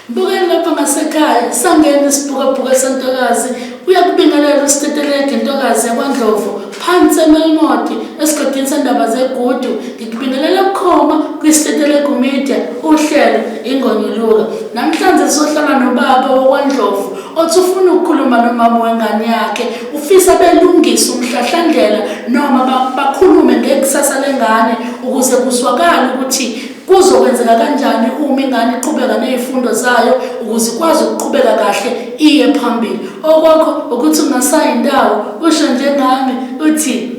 Bukeni lapha ngasekhaya sangena isibhukabhuka sentokazi uyakubingelela usitetelege ntokazi yakwandlovu phansi emelmoti esigodini sendaba zegudu ngikubingelela bukhoma kwisitetelegu media uhlelo ingonyuluka namhlanje sohlala nobaba wokwandlovu othi ufuna ukukhuluma nomama wengane yakhe Ufisa belungise umhlahlandlela noma ba- bakhulume ngekusasa lengane ukuze kuzwakale ukuthi kuzokwenzeka kanjani uma ingane iqhubeka nezifundo zayo ukuze ikwazi ukuqhubeka kahle iye phambili. Okwakho ukuthi ungasayi ndawo usho njengami uthi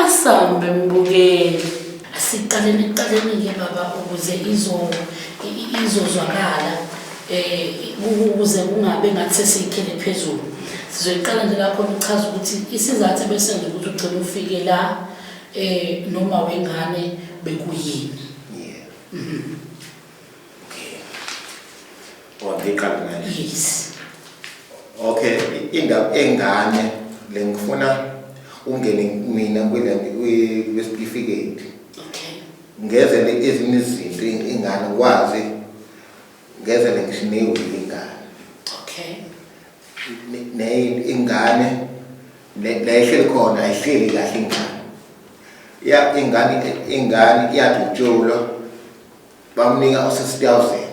asambe mbukeli. Asiqaleni ekuqaleni-ke baba ukuze izo- i- i- izozwakala. um ukuze kungabe ngathi sesiyikhele phezulu sizoyiqala nje lakhona ukuchaza ukuthi isizathu ebesenza ukuthi ugcine ufike la um noma wengane bekuyini mhm. yes okay indaba engane le ngifuna ungene mina kwile kwesitifiketi okay ngezele ezinye izinto ingane kwazi ngevele ngisho neyivile ingane okay ne ingane lehleli khona ayihleli kahle ingane ya ingane ingane iyadutshulwa bamnika usesitawuzeni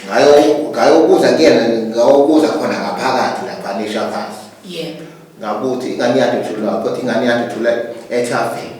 ngayo ngayobuza kuyena ngayobuza khona ngaphakathi lapha nisha phansi yebo ngabuthi ingane yadutshulwa kodwa ingane yadutshulwa ethaveni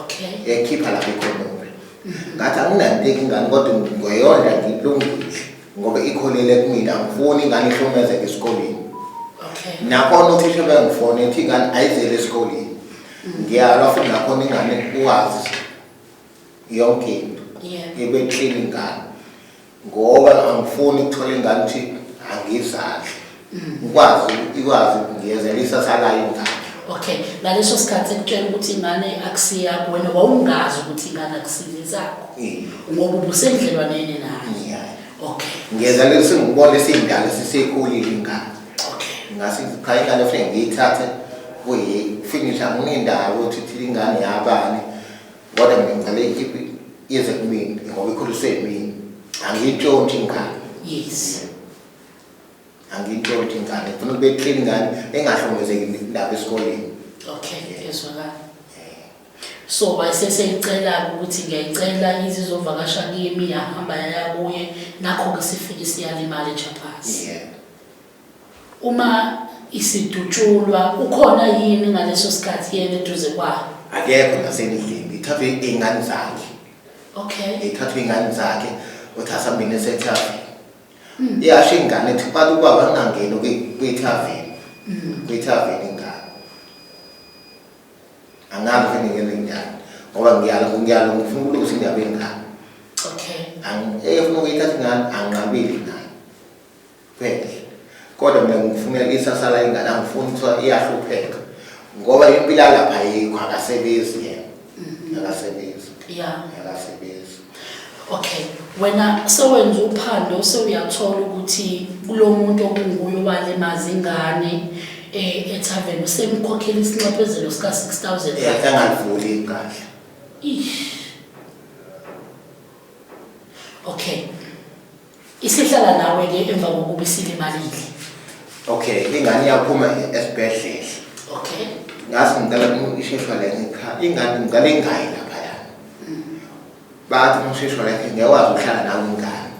okay yayikhipha lapho ikhonole ngathi anginanteki ingane kodwa ngoyonda ngilungile ngoba ikholele kumina angifuni ingane ihlomezeke esikoleni okay nakhona uthisha bengifone ethi ingane ayizele esikoleni ngiyalwa futhi nakhona ingane uwazi yonke into yebe clean ingane ngoba angifuni ukuthola ingane ukuthi angizandle ngikwazi ikwazi ngiyezela isasa layo ingane okay ngaleso sikhathi ekutshela ukuthi ingane akusiyakho wena wawungazi ukuthi ingane akusiyezakho ngoba ubusendlelwaneni naye okay ngiyezela sengibona sindala sisekhulile ingane okay ngase ngiphaya ingane futhi ngiyithathe kuyi finish anginendawo ukuthi thina ingane yabani Kodwa mina ngicela ikhiphi ize kumina ngoba ikhuliswe yimina. Angiyintlonti ingane. Yes. Angiyintlonti ingane. Ngifuna kube clean ingane engahlongozeki lapha esikoleni. Okay, ngiyezwakala. So wayeseseyicela ukuthi ngiyayicela izizovakasha kimi yahamba yaya kuye nakho-ke sifike siyalimala ejaphasi. Yeah. Uma isidutshulwa ukhona yini ngaleso sikhathi yena eduze kwayo? Akekho nasengilingi. Ithathwe ingane zakhe. Okay. Ithathwe ingane zakhe uthasa mina esethathwe. Mm. Iyasho ingane ethi baba ubaba angangeni kwithaveni. Mm. Kwithaveni ingane. Angazi ukuthi ngingene njani ngoba ngiyala ngiyala ngifuna ukulungisa indaba yengane. Okay. Angifuna ukuyithatha ingane anqabile ingane. Ngenhle. Kodwa mina ngikufunela isasa la ingane angifuni kuthiwa iyahlupheka. Ngoba impilo yalapha ayikho akasebenzi yena. Mhm. Akasebenzi. Yeah. Akasebenzi. Okay. Wena sewenza uphando sewuyathola ukuthi kulo muntu okunguye owalimaza ingane eh ethaveni usemkhokhela isinxephezelo sika 6000. Yeah, engalivuli igqahle. Ish. Okay. Isihlala nawe ke emva kokuba isilimalile. Okay, ingane iyaphuma esibhedlela. Okay. Ngathi ngicela isheshwa la ngikhaya. Ingane ngicela ingayi lapha yana. Bathi umsheshwa la ngeke wazi ukuhlala nawe ingane.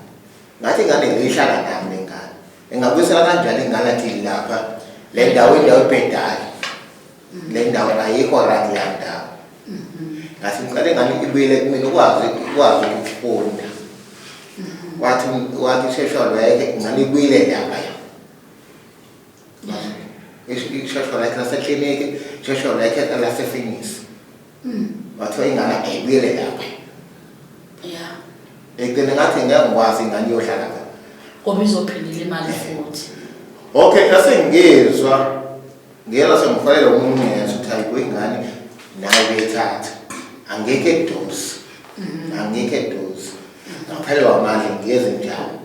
Ngathi ingane ngiyihlala nami lengane. Engabuyisela kanjani ingane athi lapha le ndawo indawo ebhedayo. le ndawo ayikho right leya ndawo ngathi ngicela ingane ibuyele kumina ukwazi ukwazi ukufunda wathi wathi usheshwa lweke ingane ibuyile lapha yo isheshwa lakhe lasekliniki isheshwa lakhe lasefinisi Mm. Wathiwa ingane ayibuyele lapha. Yeah. Ekugcine ngathi ngeke ngikwazi ingane iyohlala lapha. Ngoba izophindela imali futhi. Okay, asengizwa. Ngiyela sengifanele umuntu ngiyezwa ukuthi ayikho ingane nayo beyithatha. Angeke dosi. Mm-hmm. Angeke dosi. Ngaphelwa manje ngiyeze njalo.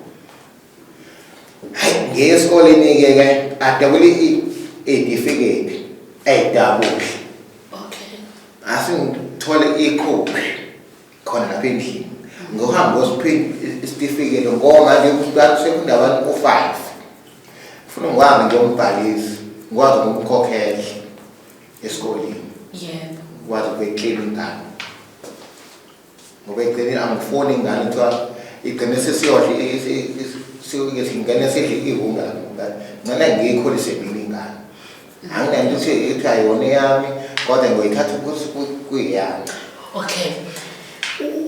Hayi ngiye esikoleni ke ke adabule idifiketi ayidabule. Okay. Asingithole ikhophi khona lapha endlini. Ngohamba osiphinda isitifiketi ngoba nje kuqala sekunda abantu ku-5. Ufuna ngwazi nje umbhalisi, ngwazi ukumkhokhela esikoleni. Yebo. Ngwazi ukuyiclean ingane. ngoba ekugcineni angifuni ingane kuthiwa igcine sesiyodla singene sidle ihunga ngcela ngiyikhulise mina ingane anginanto ukuthi ithi ayona eyami kodwa ngoyithatha ukuthi kuyiyami okay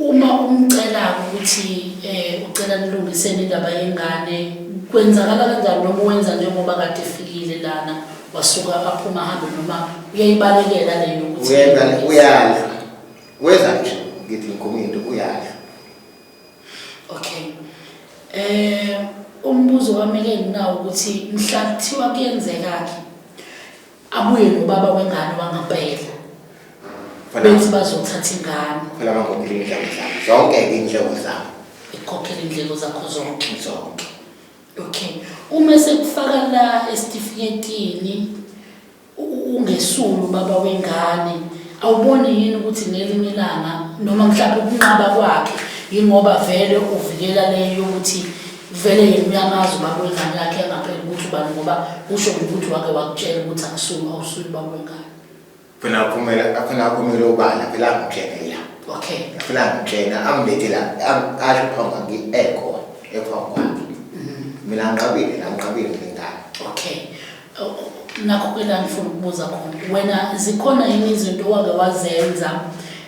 uma umcela ukuthi um ucela nilungiseni indaba yengane kwenzakala kanjani noma uwenza njengoba kade efikile lana wasuka aphuma ahambe noma uyayibalekela leyo ukuthi uyala Weza nje ngithi ngikhuluma into uyasho. Okay. Eh umbuzo wami ke nginawo ukuthi mhla kuthiwa kuyenzeka ke abuye nobaba wengane wangampela. Bethi bazothatha ingane. Phela bangophila indlela zabo. Zonke indlela zabo. Ikhokhela indlela zakho zonke. Zonke. Okay. Uma sekufaka la esitifiketini Ungesuli ubaba wengane, awuboni yini ukuthi ngelinye ilanga noma mhlawumbe ukunqaba kwakhe yingoba vele uvikela le yokuthi vele yena uyamazi ubaba wengane yakhe angapheli ukuthi ubani ngoba usho ngokuthi wake wakutshela ukuthi akusuli awusuli ubaba wengane phela aphumela aphela aphumela ubala phela angitshela okay phela angitshela angibethela asho phambi kwami ekhona ephambi kwami mina ngiqabile la ngiqabile ngengane okay nakho kuyila ngifuna ukubuza khona wena zikhona yini izinto owake wazenza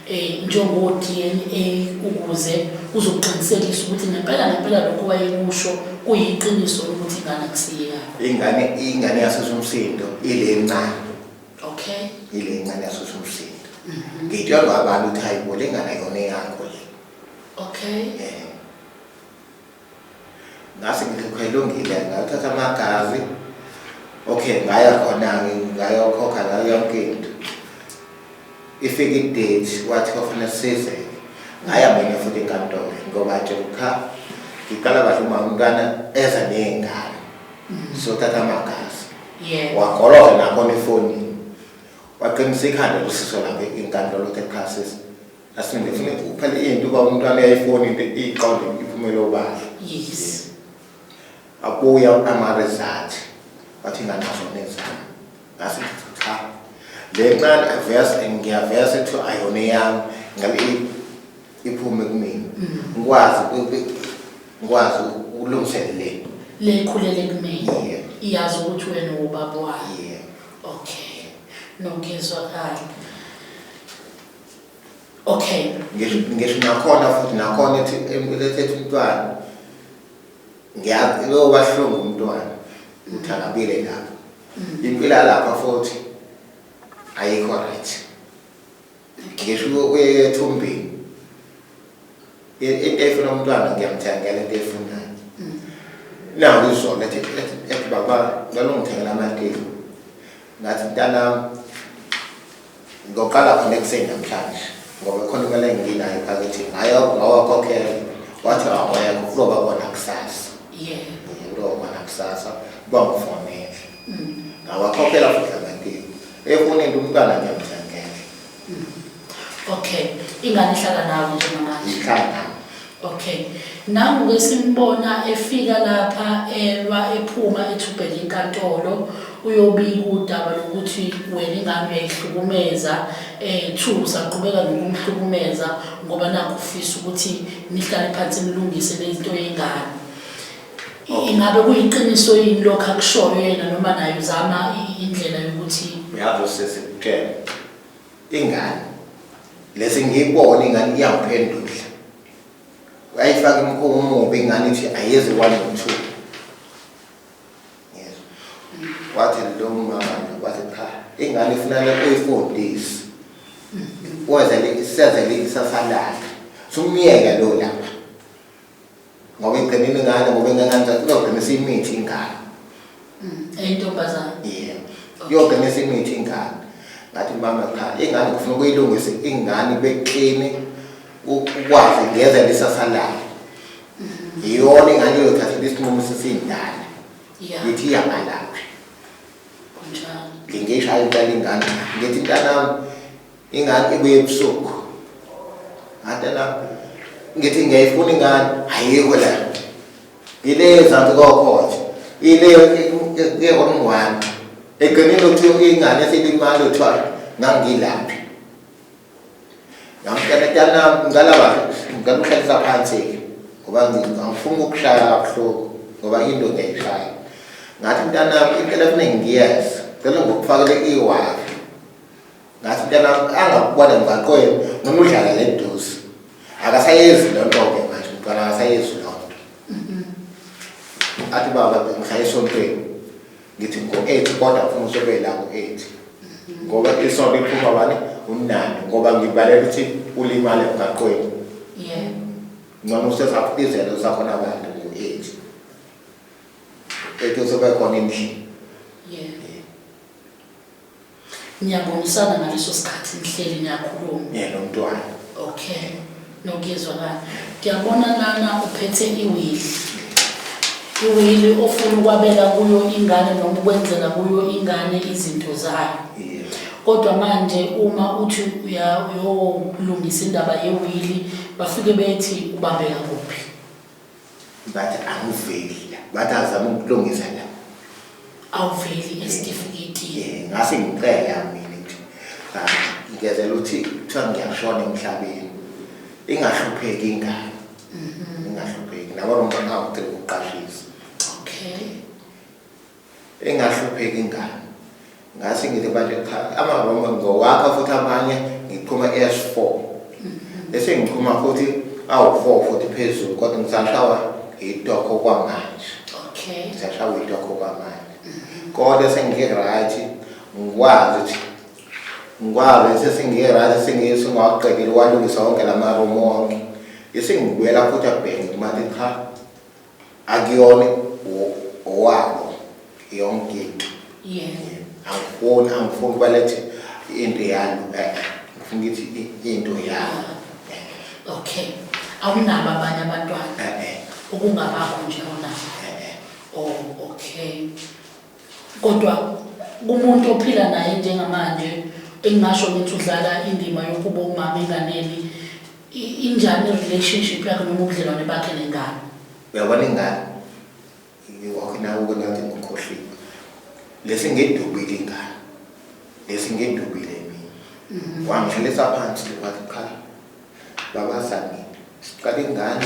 um njengo-d n a ukuze uzoqinisekisa ukuthi ngempela ngempela lokho wayekusho kuyiqiniso lokuthi ingane kusiyeyakho ingane ingane yasesumsindo ile ncane okay ile ncane yasesumsindo mhm. ngitshelwa abantu ukuthi hayi bo le ngane yona eyakho le okay um ngase ngikho ilungile ngathatha amagazi okay ngaya khona ngayokhokha ngayo yonke into ifike idate wathi kwafanele size ngaya mina futhi enkantolo ngoba nje ukha ngiqala kahle uma umntwana eza ney'ngane mm. sothatha amagazi wagoloza nakhona efonini waqinisa ikhanda losiso lakhe inkantolo texas asingifune kuphela into uba umntwana uyayifona into iqonde iphumele obala yes akuya ama-result wathi nganazo nezami ngase cha le ncane avese ngiyavese kuthiwa ayona eyami ngabe iphume kumina mm. ngikwazi ngikwazi ukulungisela le le ikhulele kumina iyazi ukuthi wena ubaba wayo okay nokuzwakala okay ngisho ngisho nakhona futhi nakhona ethi elethe umntwana ngiyazi lo wahlungu umntwana uthakabile lapho mm. impila lapha futhi ayikho right ngisho uyethumbini into efuna umntwana ngiyamthengela into efunayo mm. nawo izona ethi ethi baba ngalo ngithengela amateki Ngathi mntanam ngoqala khona ekuseni namhlanje ngoba khona imali enginayo phakithi ngayo ngawakhokhela wathi awekho kuzoba kona kusasa kuzoba kona kusasa kuba ngifonele mm. ngawakhokhela futhi amaphini efoneni umntwana ngiyamthangele Okay. Ingane ihlala nawe njengamanje. Ihlala nawe. Okay. Nangu ke simbona efika lapha elwa ephuma ethubhela inkantolo uyobika udaba lokuthi wena ingane uyayihlukumeza eh two saqhubeka nokumhlukumeza ngoba nakho ufisa ukuthi nihlale phansi nilungise lento yengane. ingabe kuyiqiniso yini lokho akushoyo yena noma naye uzama i- indlela yokuthi uyabo sisi kutshela ingane lesi ngiyibona ingane iyangiphendula uyayifaka imkhuba umubi ingane ithi ayezi one or two Ngiyezwa. wathi lo mama nje wathi cha ingane ifunana uyifundise wenzele isezele ikusasa lakhe sumyeke lo lapha ngoba iqinile ingane ngoba ingananza izoqinisa imithi ingane mm, eyintombazane yebo iyoqinisa imithi ingane ngathi mama cha ingane kufuna ukuyilungise ingane beklini ukwazi ngeze lisasa layo mm-hmm. yiyona ingane iyothathela isinqumo sesiyindala ngithi iyabalaphi ngingeshayo iqala ingane ngithi ntanami ingane ibuye ebusuku ngathi la ngithi ngiyayifuna ingane ayikho la ile ezansi kokho nje ile yekwamngwane eqinile ukuthi ingane esilimali kuthiwa ngangilaphi ngamtshela tana ngicela ba ngicela ukuhlalisa phansi-ke ngoba ngifuna ukushaya kabuhlungu ngoba into ngiyayishaya ngathi mntanami impela kuningi ngiyeza cela ngokufakele i-wifi ngathi mntanami angakubona emgaqweni noma udlala le duze akasayezi loo nto-ke manje mntwana akasayezi loo nto athi baba ngihlala esontweni ngithi ngo-eight kodwa funa usobe la ngo-eight ngoba isonto iphuma bani umnandi ngoba ngibalela ukuthi ulimale emgaqweni ncono usesakubizela usakhona abantu ngo-eight eight usobe khona endlini Niyabonisana ngaleso sikhathi nihleli niyakhuluma. Yeah, lo mntwana. Okay. Nokuyezwa bani? Ngiyabona lana uphethe iwili. Iwili ofuna ukwabela kuyo ingane noma ukwenzela kuyo ingane izinto zayo. Yeah. Kodwa manje uma uthi uya uyolungisa indaba yewili bafike bethi ubambeka kuphi? Bathi angiveli la. Bathi azama ukulungisa la. Awuveli esitifiketini. Eh, ngase ngicela mina nje. Ah, ngezela ukuthi kuthiwa ngiyashona emhlabeni. Ingahlupheki ingane. Mhm. Ingahlupheki. Nabo nomntwana wakhe uqashisa. Okay. engahlupheki ngani ngase ngithi abantu cha amabomba ngizowakha futhi amanye ngiqhuma S4 mm-hmm. bese ngiqhuma futhi awu-4 futhi phezulu kodwa ngisashawa yitokho kwamanje okay ngisashawa yitokho kwamanje mm-hmm. kodwa sengi-right ngikwazi ukuthi ngikwazi sesingi-right sengiyisingawaqedile walungisa wonke la marumu wonke isengibuyela futhi abhenge kumathi cha Akuyona owabo yonke into. Yeah. Angifuni angifuni balethe into yalo. Eh, ngifuna ukuthi into yalo. Okay. Awunabo abanye abantwana. Eh, eh. Ukungabakho nje awunabo. Eh, eh. Oh, okay. Kodwa kumuntu ophila naye njengamanje engingasho ukuthi udlala indima yokuba umama enganeni i- injani relationship yakhe noma ubudlelwane bakhe nengane uyabona ingane ngiwakho nawe kwengathi ngikhohliwe lesi ngedubile ingane lesi ngedubile mina wangihlalisa phansi wathi qha Baba Sami, siqale ingane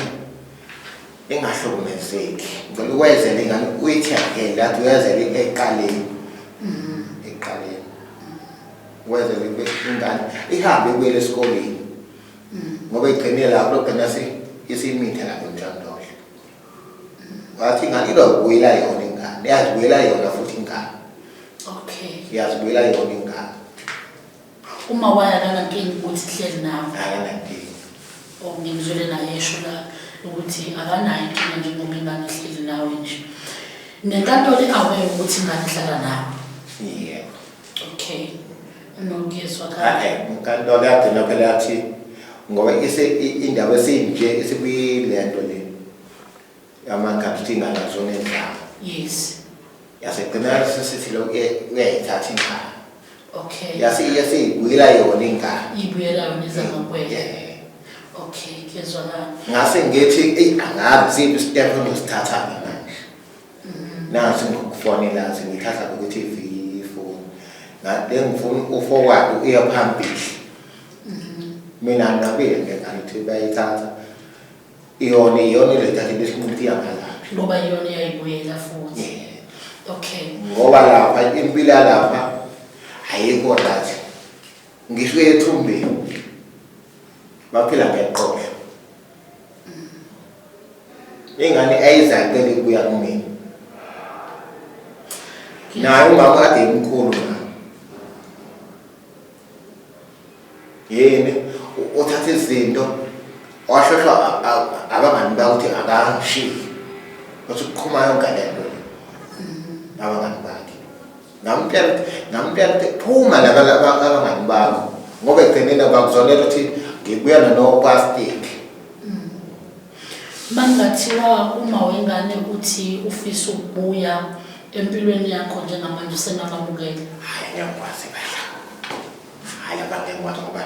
engahlukumezeki. Ngicela ukwezela ingane uyithi again that uyazela eqaleni. Mm-hmm. Eqaleni. Wezela ingane ihambe ibuyele esikoleni. Mm-hmm. Ngoba igcine lapho lokugcina isimithe lapho njandodla. Mm-hmm. Wathi ingane ilokubuyela yona ingane. Yazibuyela yona futhi ingane. Okay. Yazibuyela yona ingane. Uma waya akanankinga ukuthi kuhleli nawe. Akanankinga. Oh, ngimzwele naye esho la ukuthi akanayo inkinga njengoba ingane ihleli nawe nje. Nenkantolo i-aware ukuthi ingane ihlala nawe. Yebo. Okay. Nokuyezwa kahle. Hayi, inkantolo yathi nokho yathi ngoba ise i- indaba esinje isikuyilento le. Amakapiti ngalazo nezama. Yes. Yasegcina sesithi lo uyayithatha ingane. Okay. Yase yase ibuyela yona ingane. Ibuyela yona izama kwena. Yeah. Okay, kuyezwakala. Ngase ngithi ey angazi siphi step engizithatha mina. Mm. Nasi ngokufonela singithatha ukuthi ifoni. Ngade ngifuna uforward uye phambili. Mhm. Mina ngabile ngeke ngithi bayithatha. iyona iyona iletha ke bese umuntu iyakalaphi ngoba iyona iyayibuyela futhi okay ngoba lapha impilo yalapha ayikho right ngisho ethumbeni baphila ngeqoqo ingane ayizayo beke kuya kumina naye umama kade imkhulu yini uthatha izinto washesha abangani bakuthi akashiyi wathi uqhuma yonke lento mm-hmm. abangani bakhe ngamtshela ngamtshela ukuthi phuma laba abangani bakho ngoba ekugcineni bakuzonela ukuthi ngibuya nanokwastiki mm. Makungathiwa uma wengane uthi ufisa ukubuya empilweni yakho njengamanje usengakamukeli? Hhayi ngiyakwazi impela. Hhayi lapha ngeke ngikwazi ngoba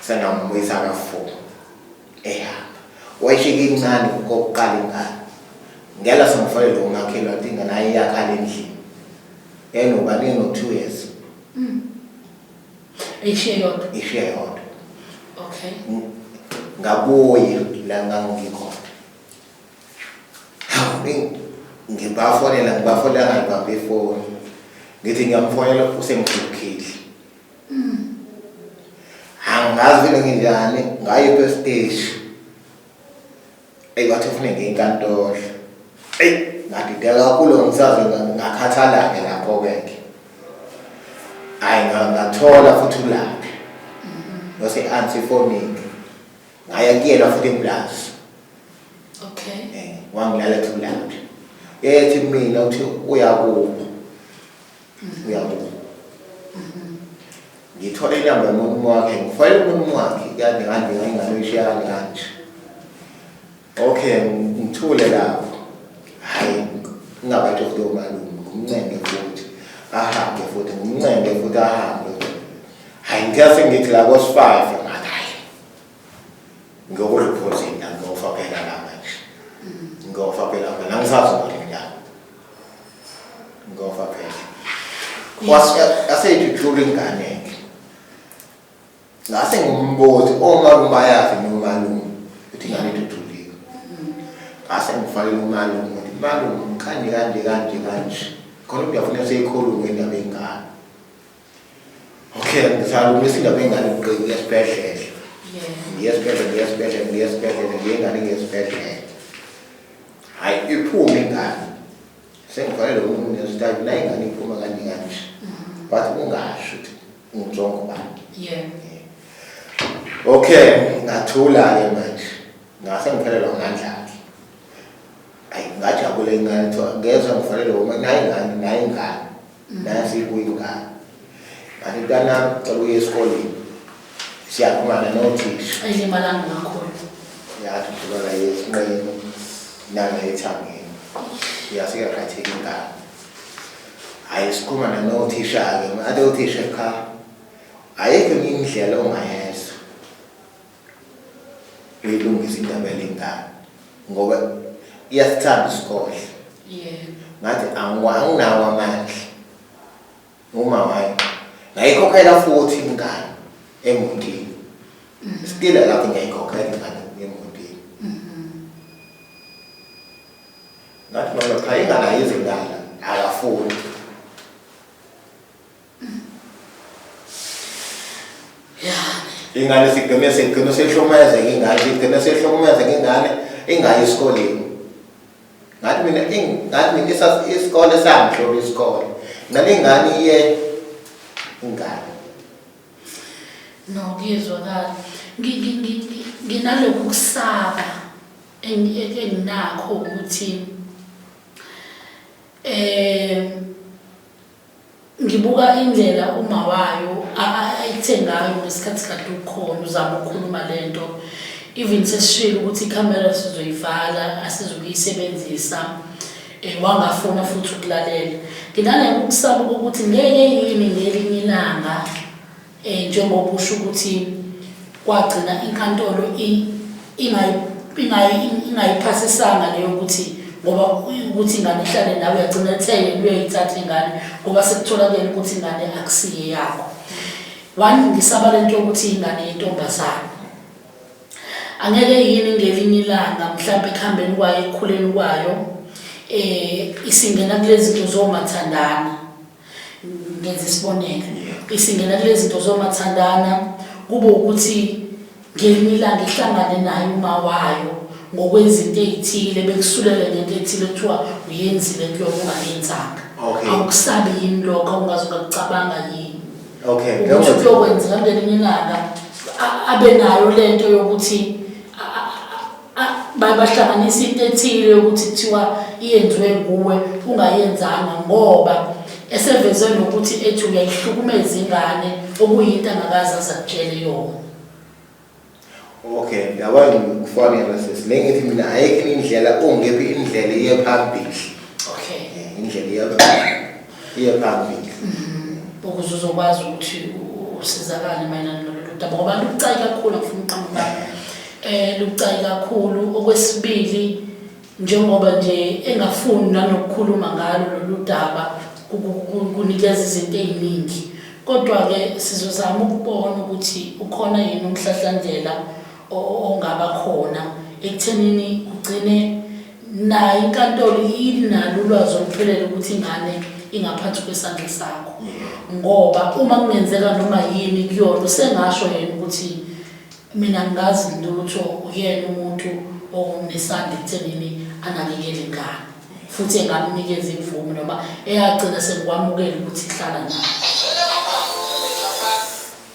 sengamubuyisa kafuku ehamba. Wayishika incane kokuqala ingane. Ngela sengifonele umakhelwane ukuthi ingane ayiyakhala endlini. Enoba nino two years. ishiya yodwa ishiya yodwa okay ngabuye la ngangikhona ngibafonela ngibafonela ngangibambe ifoni ngithi ngiyamfonela usemgxukhile mm. angazi vele nginjani ngayo esiteshi Eyi wathi ufune ngenkantolo. Eyi ngadideka kakhulu ngisaze ngakhathala-ke lapho-ke ke. Hhayi ngathola futhi ulaphi. Ngose ansi ifonini. Ngaya kuyena futhi eplazi. Okay. Eh, wangilala ethi ulaphi. Ethi mina uthi uyakuba. uyabona ngithole inamba yomuntu wakhe ngifayele umuntu wakhe kade kade ngayingane ishiyane kanje okay ngithule lapho hayi ngingabade kulo malume ngumncenge futhi ahambe futhi ngumncenge futhi ahambe hayi ngiyase ngithi la kos-five ngiyokuriphozini la ngiyofa phela la manje ngiyofa phela phela angisazi ukuthi ngidlala ngiyofa phela yaseyithula ingane ngase ngumbuzi omalume bayazi nomalume ukuthi ingane ithuthulile ngase ngifanele umalume ukuthi malume kanje kanje kanje kanje khona ukuthi uyafuna seyikhulume indaba engane Okay, ngizama ukuthi indaba engane uqinile esibhedlela. Ngiye esibhedlela, ngiye esibhedlela, ngiye esibhedlela, ngiye ingane ngiye esibhedlela. Hayi iphume ingane. Sengifanele umuntu ngesitaki la ingane iphuma kanje kanje. Wathi ungasho ukuthi ngizonke ubani. Yeah. Okay, ngathula ke manje. Ngase ngiphelelwa ngandla ke. Ayi ngajabula ingane thola ngezwe ngifanele uma nayi ngane nayi ngane. nayo siyibuya ingane but mntanami cela uye esikoleni siyakhulumana nothisha ayilimalanga ngakhona yathi udlulana yesinqeni nana ethangeni yasike yakhatheka ingane hhayi sikhulumana nothisha-ke ngathi othisha cha ayikho enye indlela ongayenza uyilungisa indaba yalengane ngoba iyasithanda isikole yebo ngathi anginawo amandla uma wayo ngayikhokhela futhi ingane emotini mm-hmm. still lapho ngiyayikhokhela ingane emotini mm-hmm. ngathi mama cha ingane ayizindala akafuni ingane sigcine sigcine sehlukumezeka ingane sigcine sehlukumezeka ingane ingayi esikoleni ngathi mina ngathi mina isikole sangihloba isikole ngane ingane iye ingane no kuyezwakala nginalokhu kusaba enginakho ukuthi um Ngibuka indlela umawayo ayithe ngayo ngesikhathi kade ukhona uzama ukukhuluma lento even sesishilo ukuthi ikhamera sizoyivala asizukuyisebenzisa um wangafuna futhi ukulalela nginanekukusaba kokuthi ngeke yini ngelinye ilanga Eh, njengoba usho ukuthi kwagcina inkantolo ingayiphasisanga leyo ukuthi ngoba ukuthi ingane ihlale nawe yagcina etheke uyoyithatha ingane ngoba sekutholakele ukuthi ingane akusiye yakho wangisaba le nto yokuthi ingane yentombazane angeke yini ngelinye ilanga mhlawumbe ekuhambeni kwayo ekukhuleni kwayo um isingena kulezi zinto zomathandana ngenza isibonelo isingena kule zinto zomathandana kube ukuthi ngelinye ilanga ihlangane naye uma wayo ngokwezinto ey'thile bekusulele ngento ethile kuthiwa uyenzile into yona ungayenzanga Okay. awukusabi yini lokho awungaze ungakucabanga yini okay ukuthi njengoba- kuyokwenzeka ngelinye ilanga a- abe nayo le nto yokuthi a- a- a- bahlanganisa into ethile yokuthi kuthiwa iyenziwe nguwe ungayenzanga ngoba eseveze nokuthi ethi uyayihlukumeza ingane okuyinto angakazi azakutshele yona okay yaba ngikufonela sesi le ngithi mina ayikho indlela ongephi indlela iye phambili okay indlela iye phambili iyephambili mm-hmm. ukuze uzokwazi ukuthi usizakale mayelana nalolu daba ngoba lubucayi kakhulu ngifuna uqamba eh lubucayi kakhulu okwesibili njengoba nje engafuni nanokukhuluma ngalo lolu daba kunikeza izinto eziningi kodwa ke sizozama ukubona ukuthi ukhona yini umhlahlandlela ongaba khona ekuthenini kugcine nayo inkantolo inalo ulwazi oluphelele ukuthi ingane ingaphansi kwesandla sakho ngoba uma kungenzeka noma yini kuyona usengasho yena ukuthi mina ngazi lutho uyena umuntu onesandla ekuthenini anakekele ingane futhi engamnikeza imvume noma eyagcina sengikwamukela ukuthi hlala nayo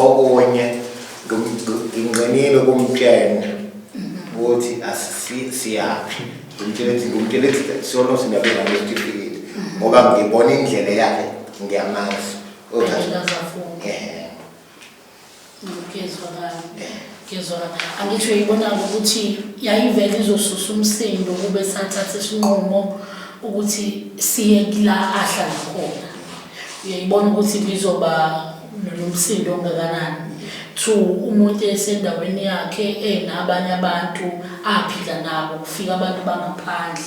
okunye nginqinile kumtshena ukuthi asisiyaphi ngimtshele ukuthi ngimtshele ukuthi solo sinabela ngesitifiketi ngoba ngibona indlela yakhe ngiyamazi ngizwa kabi ngizwa kabi angisho yibona ukuthi yayivele izosusa umsindo kube sathatha isinqumo ukuthi siye kula ahlala khona uyayibona ukuthi ngizoba nomsindo ongakanani to umuntu esendaweni yakhe enabanye abantu aphila nabo kufika abantu bangaphandle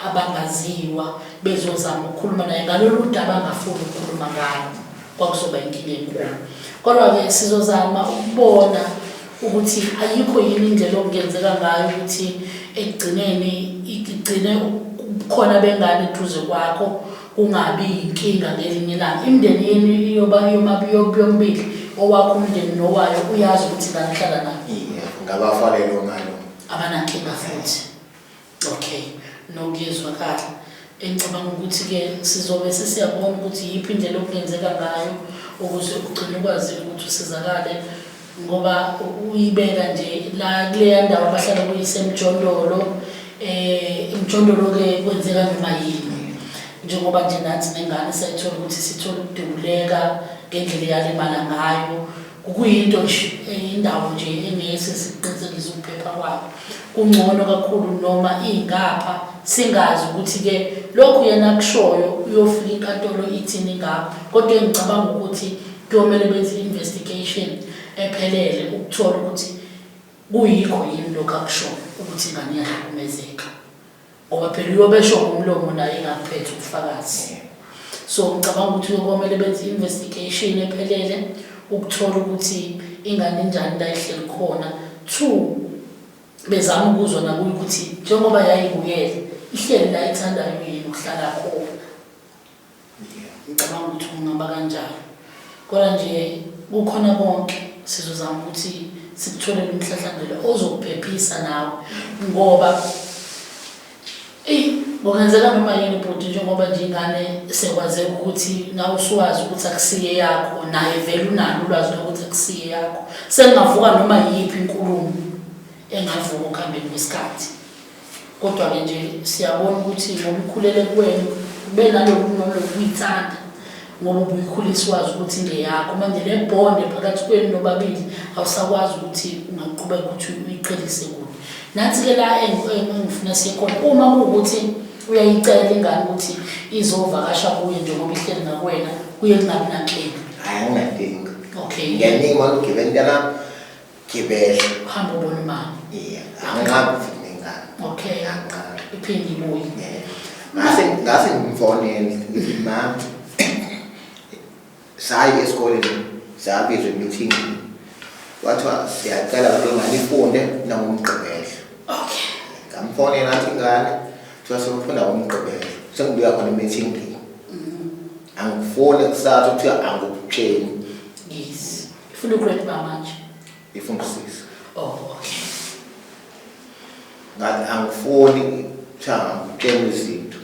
abangaziwa bezozama ukukhuluma naye ngalolu daba angafuni ukukhuluma ngalo kwakuzoba inkinga enkulu kodwa-ke sizozama ukubona ukuthi ayikho yini indlela okungenzeka ngayo ukuthi ekugcineni igcine khona bengane eduze kwakho kungabi yinkinga ngelinye ilanga imindeni yenu iyoba yombili owakho umndeni nowayo uyazi ukuthi ngani hlala nayo ngabafanele onalo abanankinga futhi Okay, no kuyezwakala. Engicabanga ukuthi-ke sizobe sesiyabona ukuthi yiphi indlela okungenzeka ngayo ukuze ugcine ukwazile ukuthi usizakale ngoba uyibeka nje la kuleya ndawo abahlala kuyisemjondolo um eh, imjondolo-ke kwenzeka noma yini njengoba nje nathi nengane sayithola ukuthi sithole ukudubuleka ngendlela eyalimala ngayo Kuyinto nje eyindawo nje engese sikuqinisekise ukuphepha kwabo. Kungcono kakhulu noma ingapha singazi ukuthi ke lokhu yena akushoyo uyofika inkantolo ithini ngakho kodwa engicabanga ukuthi kuyomele benze investigation ephelele ukuthola ukuthi kuyikho yini lokho akushoyo ukuthi ingane iyahlukumezeka. ngoba phela uyobesho ngomlomo naye ingakuphethe ubufakazi so ngicabanga ukuthi uyokomele benze i-investigation ephelele ukuthola ukuthi ingane njani la ihleli khona two bezama ukuzwa nakuyo ukuthi njengoba yayibukele ihleli la ithandayo yini ukuhlala khona ngicabanga ukuthi kungaba kanjalo kodwa nje kukhona konke sizozama ukuthi sikutholele umhlahlangelo ozokuphephisa nawe ngoba eyi kungenzeka noma yini bhuti njengoba nje ingane sekwazeka ukuthi nawe usuwazi ukuthi akusiye yakho naye vele unalo ulwazi lokuthi akusiye yakho sengingavuka noma yiyiphi inkulumo engavuka okuhambeni kwesikhathi Kodwa-ke nje siyabona ukuthi ngoba ukhulele kuwena kube naloku noma lokuyithanda ngoba ubuyikhulisa wazi ukuthi ngeyakho manje le bonde phakathi kwenu nobabili awusakwazi ukuthi ungaqhubeka ukuthi uyiqhelise kuyo nansi-ke la engifuna siye khona uma kuwukuthi uyayicela ingane ukuthi izovakasha kuye njengoba ihleli nakuwena kuye kungabi nankinga hayi anginankinga okay ngiyaningi uma ngigibela intanami Gibela. Uhamba ubona umama. Yeah. Angiqhabi futhi nengane. Okay. Angiqhabi. Iphinde ibuye. Yeah. Ngase ngase ngimfonele ngithi mama. Sayi esikoleni sabizwe meeting. Wathiwa siyacela ukuthi ngane ifunde nangomgqibelo. Okay. Ngamfonela athi ngane kuthiwa sokufunda ngomgqibelo. Sengibuya khona meeting. Mm. Angifone kusasa kuthiwa angikutsheni. Ifuna ugrade ba manje. Ifuna usisi. Oh, okay. Ngathi angifuni cha ngitshela izinto.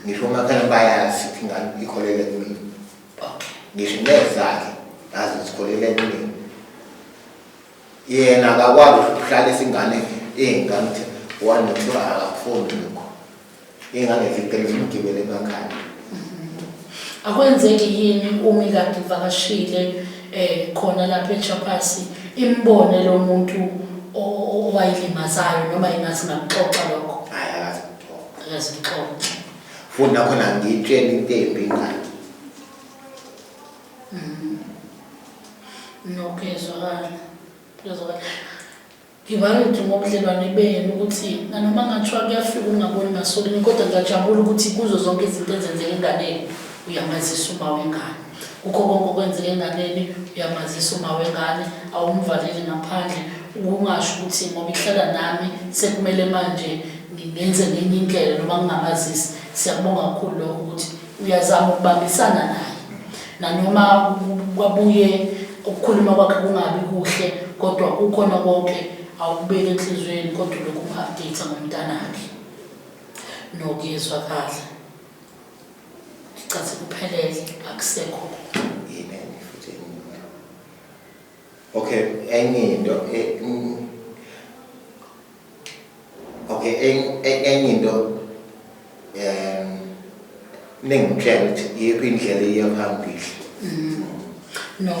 Ngisho makhaya bayazi ukuthi ngani ikholele kumina. Okay. Ngisho nezakhe azi sikholele kumina. Yena akakwazi ukuhlala isingane ingane ukuthi one two akafuni lokho. Engangevikela umgibeli emakhanda. Akwenzeki yini umi kade ivakashile eh khona lapha eChapasi imbone lo muntu o- o- owayilimazayo noma ingathi ngakuxoxa lokho Hayi akazi kuthola. akazixoxa Futhi nakhona ngitshela into embi ingane. nokuyezwakala kuyezwakala Ngivalidi ngobudlelwane benu ukuthi nanoma kungathiwa kuyafika ukungaboni ngasolinye kodwa ngiyajabula ukuthi kuzo zonke izinto ezenzeka enganeni uyamazisa uma wengane. Kukho konke okwenzeka enganeni uyamazisa uma wengane, awumvaleli ngaphandle. Ukungasho ukuthi ngoba ihlala nami sekumele manje ngenze ngenye indlela noma ngingamazisi. Siyakubonga kakhulu lokho ukuthi. Uyazama ukubambisana naye nanoma kwabuye ukukhuluma kwakhe kungabi kuhle kodwa kukhona konke awukubeke enhliziyweni kodwa lokhu update ngomntanakhe nokuyezwa kahle icathi kuphelele akusekho Okay, enye into e, mm, okay enye into um ningitshela ukuthi yikho indlela iya phambili mm. no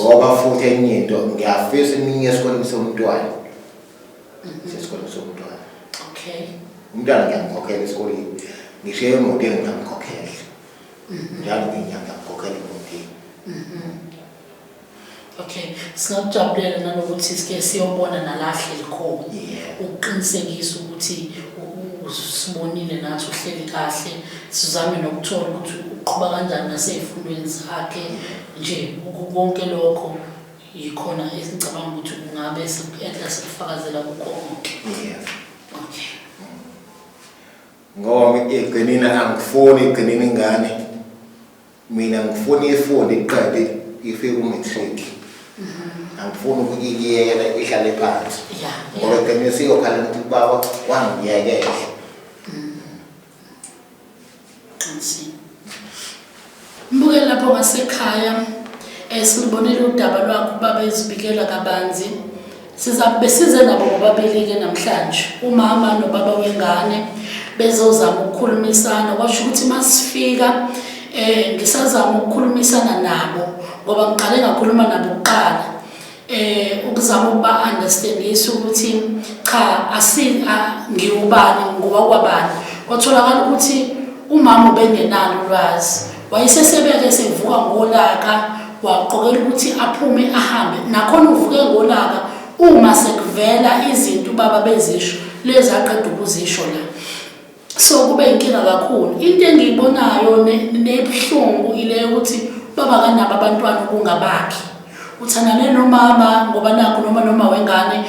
ngoba futhi enye into ngiyafisa iminye esikoleni somntwana mm-hmm. sesikoleni somntwana okay umntwana ngiyamkhokhela esikoleni ngisho emoto engingamkhokhela mm-hmm. njalo nginyanga ngikhokhela emotini mm-hmm. Okay, singakujabulela nanokuthi sike siyobona nalahle likhona Yeah. ukuqinisekisa ukuthi u- u- usibonile nathi uhleli kahle sizame nokuthola ukuthi uqhuba kanjani nasey'fundweni zakhe nje uku- konke lokho yikhona esicabanga ukuthi kungabe siku-enhla sikufakazela kukho konke Yeah. okay Ngoba iqinile angifuni iqinile ingane. Mina ngifuna ifunde iqede ife ku-matric. Angifuni ukuyiyekela ihlale phansi. Ya, Ngoba ya. ekugcineni siyokhala ukuthi ubaba wangiyekela. Qinisile. Mbuke lapho ngasekhaya eh silubonile udaba lwakho ubaba ezibikela kabanzi Sizakube size nabo bobabili-ke namhlanje umama nobaba wengane bezozama ukukhulumisana kwasho ukuthi uma sifika um ngisazama ukukhulumisana nabo ngoba ngiqale ngakhuluma nabo kuqala um ukuzama ukuba-understandisa ukuthi cha ngiwubani ngoba kwabani kwatholakala ukuthi umama ubengenalo ulwazi Wayesesebeka esevuka ngolaka waqokela ukuthi aphume ahambe nakhona uvuke ngolaka uma sekuvela izinto ubaba bezisho lezi aqeda ukuzisho la so kube inkinga kakhulu into engiyibonayo nebuhlungu ile yokuthi baba kanabo abantwana ukungabakhi uthandane nomama ngoba nakho noma noma wengane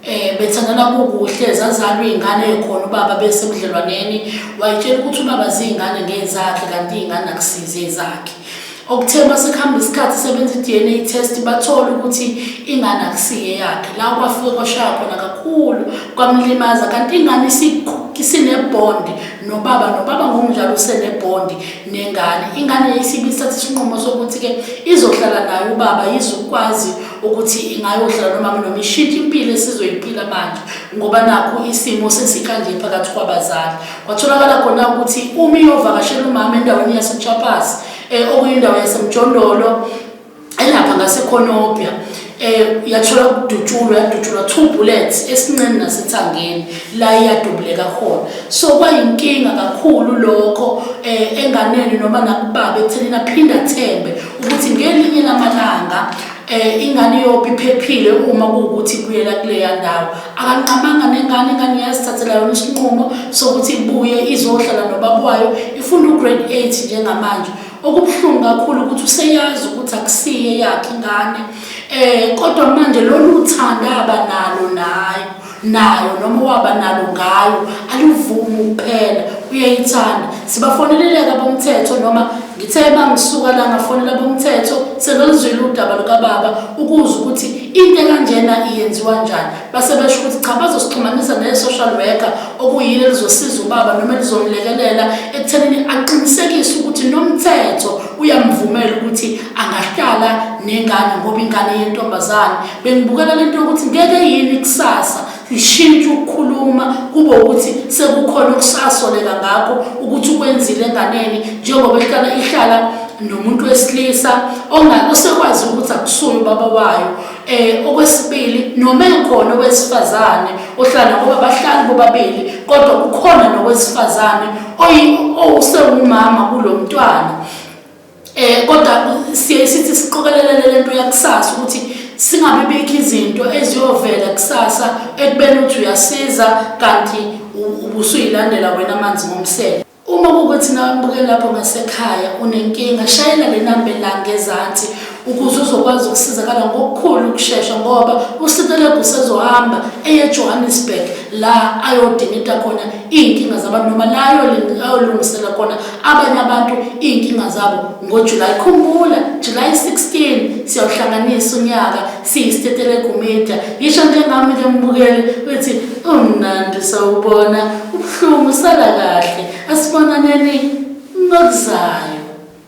Eh bethandana kukuhle zazalwa izingane ekhona ubaba bese budlelwaneni wayitshela ukuthi ubaba zingane ngezakhe kanti izingane akusize ezakhe. Okuthe masekuhamba isikhathi sebenza iDNA test bathola ukuthi ingane akusiye yakhe. La kwafike kwashaya khona kakhulu kwamlimaza kanti ingane isinebond nobaba nobaba ngomdlalo usenebond nengane. Ingane isibisathe isinqumo sokuthi ke izohlala naye ubaba izokwazi ukuthi ingayohlala nomama noma ishintshe impilo esizoyiphila manje ngoba nakho isimo sesikanje phakathi kwabazali kwatholakala khona ukuthi uma iyovakashela umama endaweni yasechapas um eh, okuyindawo yasemjondolo elapha ngasekhonobya eh yathola ukudutshulwa yadutshulwa two bullets esinqeni nasethangeni la iyadubuleka khona so kwayinkinga kakhulu lokho eh enganeni noma nakubaba ekutheni naphinda thembe ukuthi ngelinye lamalanga eh ingane yobe iphephile uma kuwukuthi kuyela kuleya ndawo akanqamanga nengane ingane iyazithathela yona isinqumo sokuthi ibuye izohlala nobaba wayo ifunda ugrade 8 njengamanje okubuhlungu kakhulu ukuthi useyazi ukuthi akusiye yakhe ingane eh kodwa manje lolu thanda abanalo naye nayo noma owaba nalo ngayo alivumi ukuphela uyayithanda sibafoneleleke abomthetho noma ngithe uma ngisuka la ngafonela abomthetho sebeluzwile udaba lukababa ukuze ukuthi into ekanjena iyenziwa njani base besho ukuthi cha bazosixhumanisa ne-social worker okuyilo elizosiza ubaba noma elizomlekelela ekuthenini aqinisekise ukuthi nomthetho uyamvumela ukuthi angahlala nengane ngoba ingane yentombazane bengibukela lento yokuthi ngeke yini kusasa ishintshe ukukhuluma kube ukuthi sekukhona okusasoleka ngakho ukuthi ukwenzile enganeni njengoba ihlala ihlala nomuntu wesilisa osekwazi ukuthi akusuye ubaba wayo um okwesibili noma ekhona owesifazane ohlala ngoba bahlali bobabili kodwa kukhona nowesifazane owusewumama kulo mntwana Eh kodwa siye sithi siqokelelele lento yakusasa ukuthi singabe bikho izinto eziyovela kusasa ekubeni ukuthi uyasiza kanti ubusuyilandela wena amanzi ngomsele. Uma kukuthi nawe mbuke lapho ngasekhaya unenkinga shayela le namba elanga ezansi ukuze uzokwazi ukusizakala ngokukhulu ukushesha ngoba uSitelegu usezohamba eye Johannesburg la ayodingida khona iinkinga zabantu noma layolungisela kona abanye abantu iinkinga zabo ngojulayi khumbula julayi 16 siyawuhlanganisa unyaka siyistetelegumida yisho njengami ke mbukele uthi umnandi sawubona ubuhlungu sala kahle asibonaneni ngokuzayo